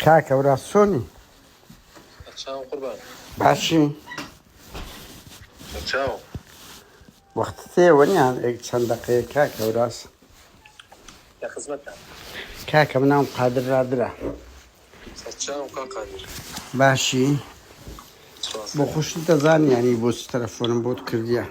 کاکە وراز چۆنی چاو قوربان باشی چاو وەخت تێوە نیان ئێک چەند دەقەیە کاکە وراز لە خزمەتە کاکە مناوم قادر رادرا چاو کا قادر باشی سپاس بۆ خوشت دەزان یانی بۆ چ تەلەفۆنم بۆت کردیە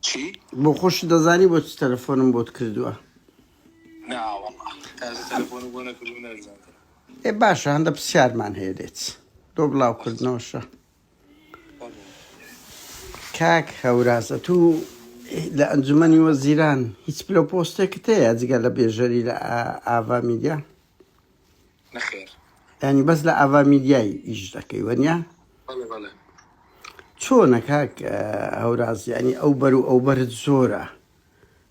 چی بۆ خوشت دەزانی بۆ چ تەلەفۆنم بۆت کردووە ناوەڵا تازە تەلەفۆن بۆ نەکردوو نەشزانتر ئێ باشە هەندە پرسیارمان هەیە لێت دۆ بەس بڵاوکردنەوەشە بەڵێ کاک هەورازە تو لە ئەنجومەنی وەزیران هیچ پلە و پۆستێکت هەیە جگە لە بێژەری لە ئا- ئاڤا میدیا نەخێر ینی بەس لە ئاڤا میدیای ئیش دەکەی وەنیا بەڵێ بەڵێ چۆنە کاک اه، هەوراز ینی ئەو بەر و ئەو بەرت زۆرە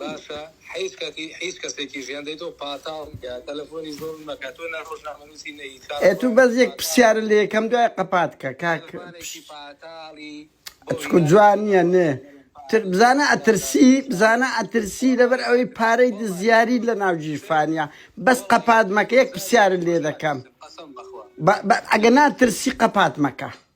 باشە حیز کەتی حیز کەسێکی ژیان دەیتۆ پاتاڵ کە تەلەفۆنی زۆڵ مەکە تۆ نە ڕۆژنامە نوسی نە هیچ ئێ تو بەس یەک پسیارە لە یەکەم دوای قەپات کە کاک ئەچکو جوان نیە نێ تر بزانە ئەترسی بزانە ئەترسی لەبەر ئەوەی پارەی دزیاریت لە ناو گیرفانیە بەس قەپات مەکە یەک پسیارە لێ دەکەم بە ئەگە ناترسی قەپات مەکە.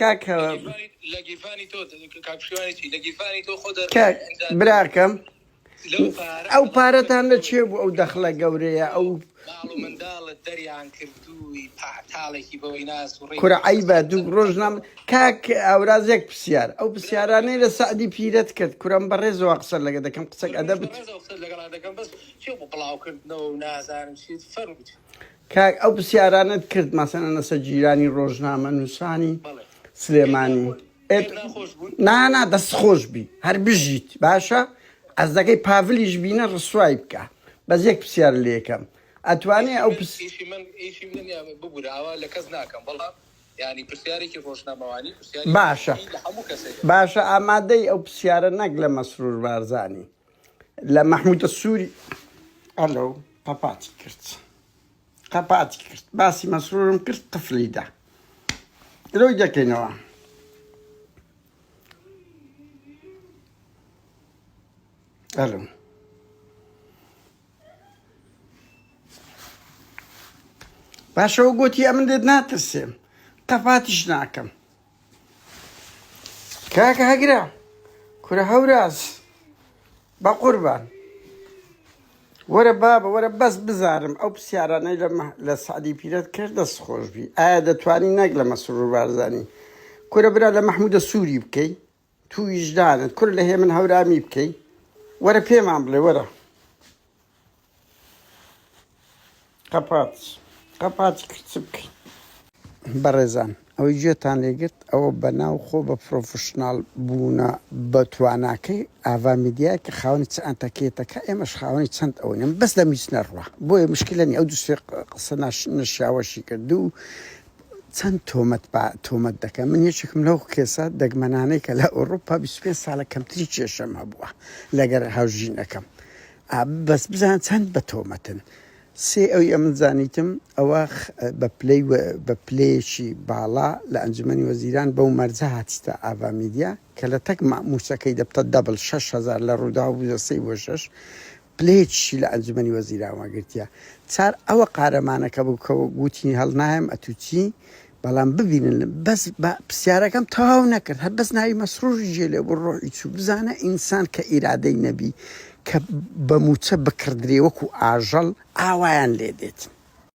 کاک کاک براکەم ئەو پارەتان لە چێ بوو ئەو دەخلە گەورەیە ئەو کورە عیبە دوو ڕۆژ نام کاک ئاورازێک پرسیار ئەو پرسیارانەی لە سعدی پیرەت کرد کورم بەڕێزەوە قسە لەگە دەکەم قسەک ئەدە بت کاک ئەو پرسیارانت کرد مەسەنە نەسە جیرانی ڕۆژنامە نووسانی سلێمانی نانا دەست خۆش بی هەر بژیت باشە ئەزەکەی پاڤلیش بینە ڕسوای بکە بەس یەک پرسیار لێکەم ئەتوانێ ئەو باشە باشە ئامادەی ئەو پرسیارە نەک لە مەسرور بارزانانی لە مەحمودە سووری ئەلۆ قەپاتی کرد قەپاتی کرد باسی مەسرورم کرد قفلی دا درۆی دەکەینەوە ئەلو باشەوە گوتی ئەمن لێت ناترسێم قەپاتیش ناکەم کاکە هەگرە کورە هەوراز بە قوربان وەرە بابە وەرە بەس بزانم ئەو پرسیارانەی لە سعدی پیرەت کرد دەست خۆشبی ئایا دەتوانی نەک لە مەسرور بارزانی کورە برا لە مححمودە سووری بکەی تو ویژدانت کورە لە هێمن هەورامی بکەی وەرە پێمان بڵێ وەرە قەپات قەپاتی کرد چ بکەین بەڕێزان ئەوەی گوێتان لێگرت ئەوە بەناو خۆ بە پرۆفشنال بوونە بە تواناکەی ئاوا میدیای کە خاونی چ ئەتەکێتەکە ئێمەش خاونی چەند ئەوەیم بەس لە میچ نەڕوە بۆیە مشکلنی ئەو دوسێ قسە ناش نشیاوەشی کرد و چەند تۆمەت با تۆمەت دەکەن من یەکێکم لەو کێسە دەگمەنانەی کە لە ئۆڕۆپا 25 ساڵە کەمتری کێشەم هەبووە لەگەر هاوژینەکەم ئا بەس بزان چەند بە تۆمەتن سێ ئەوی ئەمن زانیتم ئەوە بە پلەی بە پلەیەکی باڵا لە ئەنجومەنی وەزیران بەو مەرجە هاتیتە ئاڤا میدیا کە لە تەک مامووسەکەی دەبتە دەبل 6 هەزار لە ڕووداو بووزە سەی بۆ شەش پلەیەکیشی لە ئەنجومەنی وەزیران وەرگرتیە. چار ئەوە قارەمانەکە بوو کە وتی هەڵنایەم ئەتوو چی؟ بەڵام ببینن بەس با پرسیارەکەم تەواو نەکرد هەر بەس ناوی مەسروری جێ لێ بوو ڕۆحی چوو بزانە ئینسان کە ئیرادەی نەبی کە بە مووچە بکڕدرێ وەکوو ئاژەڵ ئاوایان لێ دێتن.